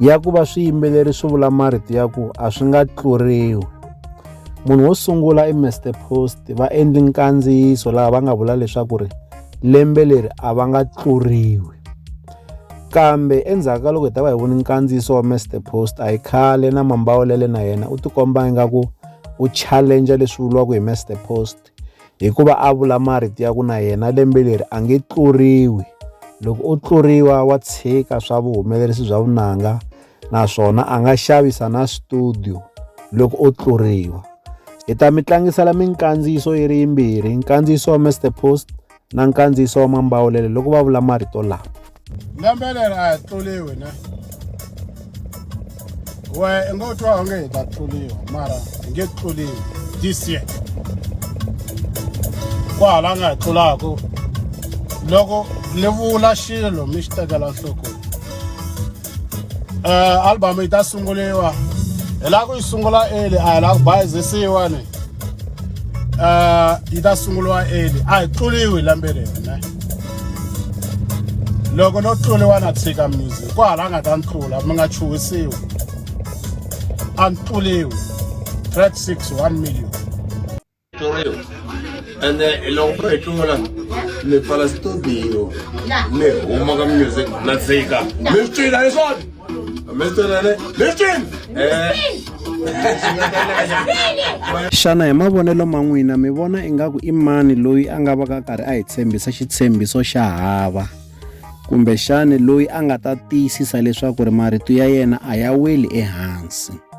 ya ku va swiyimbeleri swi vula marito ya ku a swi nga tluriwi munhu wo sungula i Mr Post va endli nkandziyiso laha va nga vula leswaku ri lembe leri a va nga tluriwi kambe endzhaku ka loko hi ta va hi voni nkandziyiso wa Mr Post a hi khale na mambawulele na yena u tikomba ingaku u challenge leswi vuriwaka hi Mr Post Hikuva a vula marito ya ku na yena lembe leri a nge tluriwi. Loko o tluriwa wa tshika swa vuhumelerisi bya vunanga naswona a nga xavisa na studio loko o tluriwa. Hi ta mi tlangisela minkandziyiso yi ri yimbirhi, nkandziyiso wa Mister Post. na nkandziyiso wa mambawulelo loko va vula marito lama lembe leri a hi tluriwi ne we i ngo twa onge hi ta tluriwa mara hi nge tluriwi this year ku hala nga hi tlulaku loko ni vula xilo mi xi tekela nhlokweni uh, album yi ta sunguriwa hi lava ku yi sungula eli a hi lava ku bayizisiwa ni uh, yi ta sunguriwa eli a hi tluliwi lembe leri ne loko no tluliwa na tshika music ku hala nga ta ni tlula mi nga chuhisiwi a ni tluliwi track 6 1 million Toreo. And then along the Tola, the Palestinian, me, Omaga music, let's say, Mr. Dyson, Mr. Listen! xana hi mavonelo ma n'wina mi vona ingaku i mani loyi a nga va ka karhi a hi tshembisa xitshembiso xa hava kumbe xani loyi a nga ta tiyisisa leswaku ri marito ya yena a ya weli ehansi